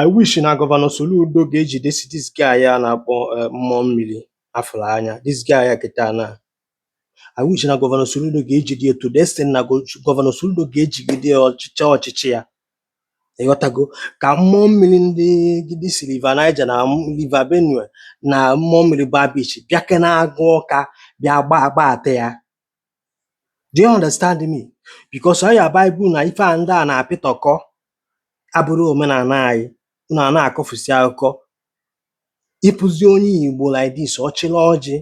I wish na Gọvanọ Soludo ga-ejidesi this guy a na-akpọ eh, mmụọ mmiri afụrụ anya this guy a kịta na I wish na Gọvanọ Soludo ga-ejide ya to the extent na go- Gọvanọ Soludo ga-ejigide ya ọchịchị ọchịchị ya ịghọtago ka mmụọ mmiri ndị gidi si River Niger na m- River Benue na mmụọ mmiri Bar Beach bịakọ n'Agụ Ọka bịa gba agbata ya Do you understand me? Because ọ ya bụ ibu na ife a ndị a na-apịtọkọ abụrọ omenala anyị unu a na-akọfusi akụkọ ị fụzie onye Igbo like this ọ chịla ọjị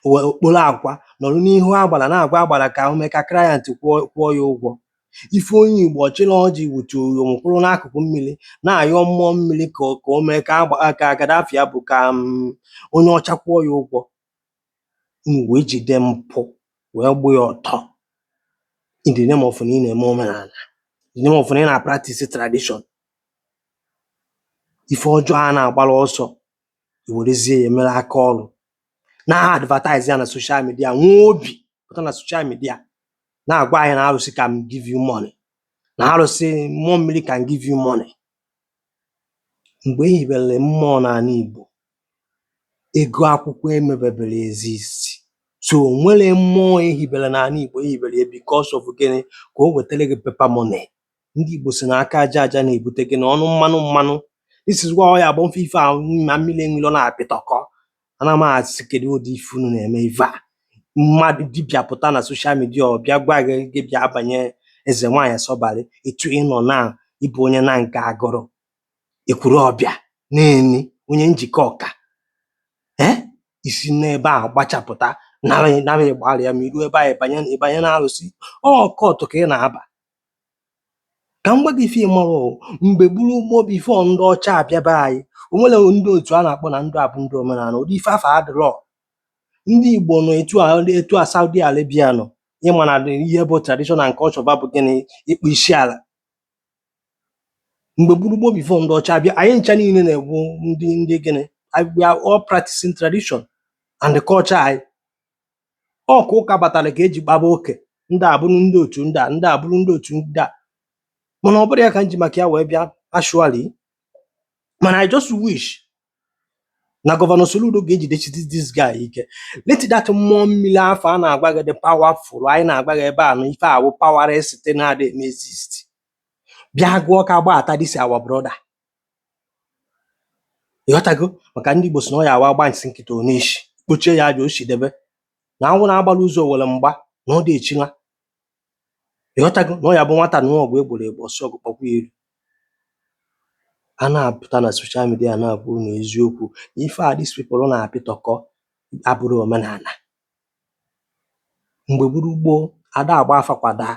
o wee o kporo akwa nọrọ n'ihu agbara na-agwa agbara ka o mee ka client kwụọ kwụọ ya ụgwọ ị fụ onye Igbo ọ chịla ọjị wutu uyom kwụrụ n'akụkụ mmiri na-ayọ mmụọ mmiri ka o- ka o mee ka agba ka Gaddafi ya bụ ka mm, onye ọcha kwụọ ya ụgwọ unu wee jide mpụ wee gbụ ya ọtọ in the name of na ị na-eme omenala, in the name of na ị na-practice tradition. Ife ọjọọ a na-agbara ọsọ, i werezie ya mere aka ọrụ, na-advertise ya na social media, nwee obi pụta na social media na-agwa anyị na arụsị can give you money, na arụsị mmụọ mmiri can give you money. Mgbe e hibere mmụọ n'ala Igbo, ego akwụkwọ emebeberọ exist. So, o nwerọ mmụọ e hibere n'ala Igbo, e hibere ya because of gịnị? Ka o wetara gị paper money. Ndị Igbo si na aka aja aja na-ebute gịnị? Ọnụ mmanụ mmanụ. This is why ọ ya bụ m fụ ife ahụ ma Mmiri Enwe Iro na-apịtọkọ. Ana m asị kedụ ụdị ife unu na-eme ife a mmadụ dibịa pụta na soshal midia ọ bịa gwa gị gị bịa banye eze nwaanyị sọbalị etu ị nọ na ị bụ onye Nanka Agụlụ Ekwulọbịa Neni onye Njikọka ee i si n'ebe a gbachapụta nara nara Igbariam i ru ebe a ị banye na ị banye na arụsị occult ka ị na-aba Ka m gwa gị ife ị marọ o, mgbe gboo gboo before ndị ọcha abịa be anyị, o nwerọ ndị otu a na-akpọ na ndị a bụ ndị omenala. Ụdị ife afụ adịrọ. Ndị Igbo nọ etu a etu a Saudi Arabia nọ. Ị ma na ihe bụ tradition and culture fa bụ gịnị? Ịkpụ isi ala. Mgbe gboo gboo before ndị ọcha abịa, anyị ncha niile na-abụ ndị ndị gịnị? Anyị- We are all practicing tradition and the culture anyị. ọ ka ụka batara ka e ji kpaba oke ndị a bụrụ ndị otu ndị a ndị a bụrụ ndị otu ndị a mana ọ bụrọ ya ka m ji maka ya wee bịa actually mana I just wish na gọvanọ Soludo ga-ejidesi this guy ike let that mmụọ mmiri afụ a na-agwa gị dị powerful anyị na-agwa gị ebe a na ife a wụ powerless na-adị eme exist bịa Agụ Ọka gbata this our brother Ị ghọtago? Maka ndị Igbo sị na ọ ya awa agba nsị nkịta ọ na-eshi, kpochie ya aja o shi debe. Na anwụ na-agbala ụzọ owere mgba na ọ dị echila. Ị ghọtago? Na ọ ya bụ nwata nụọ ọgụ e gboro egbo ọ sị ọgụ kpọkwa ya iru. A na-apụta na social media na-agwa unu eziokwu na ife a these people na-apịtọkọ abụrọ omenala. Mgbe gburu gboo, ada agba afa kwadaa,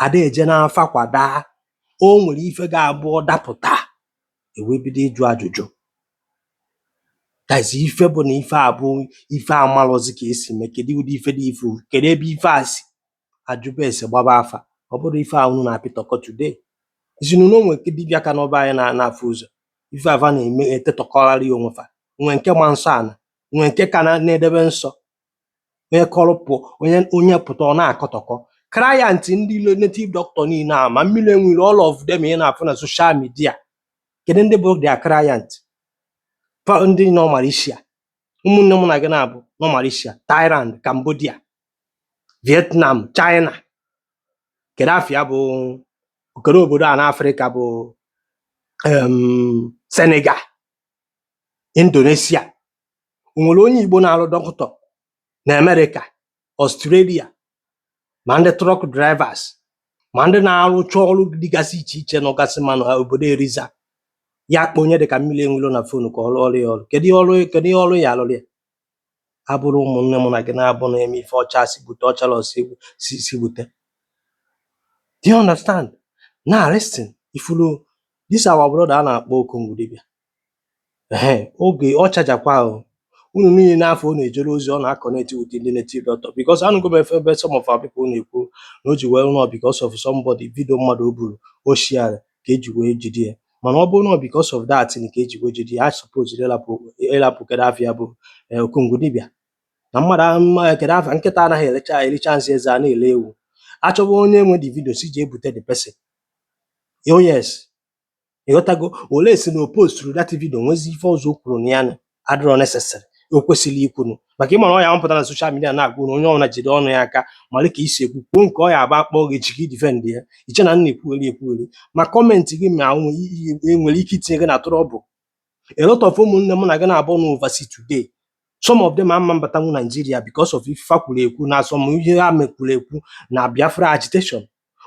ada eje n'afa kwadaa o nwere ife ga-abụ ọ dapụta ewee bido ịjụ ajụjụ that's ife bụ na ife a bụ ife amalọzi ka esi mee kedu ụdị ife dị ife kedu ebe ife a si a jụba ese gbaba afa ọ bụrọ ife a unu na-apịtọkọ today izinu na o nwe nke dibịa ka nọ be anyị na- na-afụ ụzọ ife a fa na-eme etetọkọgharị onwe fa nwe nke ma nsọ ana nwe nke ka na- na-edebe nsọ onye kọrọ pụ onye onye pụta ọ na-akọtọkọ client ndị ile native doctor niile a ma mmiri enwilo all of them ị na-afụ na social media kedu ndị bụ their client ndị nọ Malaysia ụmụnne mụ na gị naabọ nọ Malaysia Thailand Cambodia Vietnam China kedu afa ya bụ kedu obodo a n'Afrịka bụ em, Senegal Indonesia O nwere onye Igbo na-arụ doctor na America, Australia, ma ndị truck drivers ma ndị na-arụcha ọrụ dịgasị iche iche nọgasị ma na obodo Eliza ya akpọ onye dịka mmiri enwilo na fonu ka ọ rụọrọ ya ọrụ kedu ihe ọrụ kedu ihe ọrụ ya alụrụ ya abụrọ ụmụnne mụ na gị naabọ na-eme ife ọcha si bute ọchara ọsọ egwu si si bute do you understand now listen ị fụrụ this our brother a na-akpọ Okongwu dibịa ehe oge ọ chajakwa ahụ unu niile n'afọ ọ na-ejere ozi ọ na-akọneti with ndị native doctor because anụgo m efe ebe some of our people na-ekwu na o ji wee rụọ because of somebody video mmadụ o buru o shiara ka eji wee jide ya mana ọ bụrụ na ọ because of that na ka eji wee jide ya a suppose ịlapụ ịlapụ kedụ afa ya bụ eh, Okongwu dibịa na mmadụ ahụ mma kedụ afa ya nkịta anaghị ericha ericha nsị eze a na-ele ewu achọwa onye nwe the video si ji ebute the person oh yes ị ghọtago unless na o posturu that video nwezi ife ọzọ o kwuru na ya na adịrọ necessary o kwesịrị ikwunu maka ị mara ọ ya m pụta na social media na-agwa na onye ọbụla jide ọnụ ya aka mara ka i si ekwu kwuo nke ọ ya abụ a kpọọ gị echi ka i defend ya i che na m na-ekwugheri ekwugheri ma comment gị ma o nwe- i- i- e nwere ike itinye gị na trouble a lot of ụmụnne m na gị naabọ na oversea today some of them ama abatanwu Nigeria because of ife fa kwuru ekwu na some ihe ha mekwuru ekwu na Biafra agitation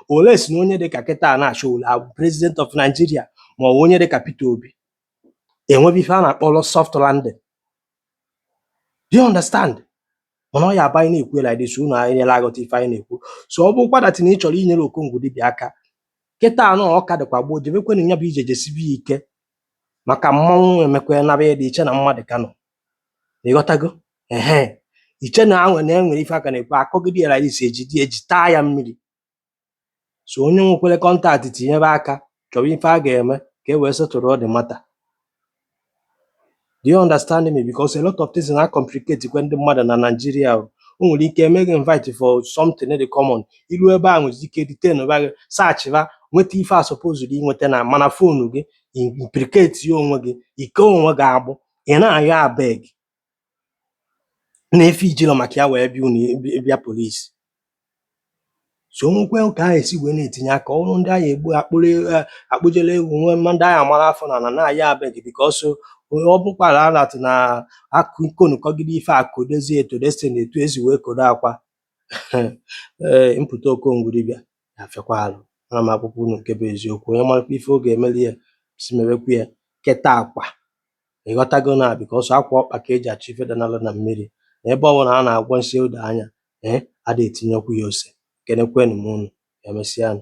unless na onye dịka kịta na Sowore abụ president of Nigeria ma ọ bụ onye dịka Peter Obi enwebe ife a na-akpọrọ soft landing do you understand mana ọ ya aba anyị na-ekwu like this unu anyị nyere aghọta ife anyị na-ekwu so ọ bụkwa that na ị chọrọ inyere Okongwu dibịa aka kịta na ọ ka dịkwa gboo jebekwenụ ya bụ ije jesibe ya ike maka mmanwụ emekwa naba ya dị iche na mmadụ ka nọ ịghọtago ehe iche na anwe na enwere ife a ka na-ekwu akọgide ya isi eji di eji taa ya mmiri so onye nwekwere contact tinyebe aka chọwa ife a ga-eme ka e wee settle the matter do you understand me because a lot of things na complicate kwe ndị mmadụ na Nigeria o nwere ike eme gị invite for something dị common i lu ebe a nwezi ike detain ba gị searchba nweta ife a supposed inweta na mana phone gị implicate ya onwe gị i kee onwe gị agbụ ị na-ayọ abeg na ife ijilọ maka ya wee bịa unu bịa police so nwekwe ka a esi wee na-etinye aka ọrụ ndị a ya egbu akpụrụ eh, akpụjere ewu nwe mma ndị a ya amara afọ n'ana na-ayọ abeg because ọ bụkwara alat na akụ ikonukọgide ife akụ dozie eto destiny etu esi wee kodo akwa Eh, mpụta Okongwu dibịa na-afịakwa arụ ana m agwakwa unu nke bụ eziokwu onye marakwa ife ọ ga-emeli ya si mewekwa ya kịta akwa ịghọtago na because akwa ọkpa ka eji achọ ife danalụ na mmiri na ebe ọbụla a na-agwọ nsị ụda anya ee ada etinyekwu ya ose kenekwenụ m unu emesịanụ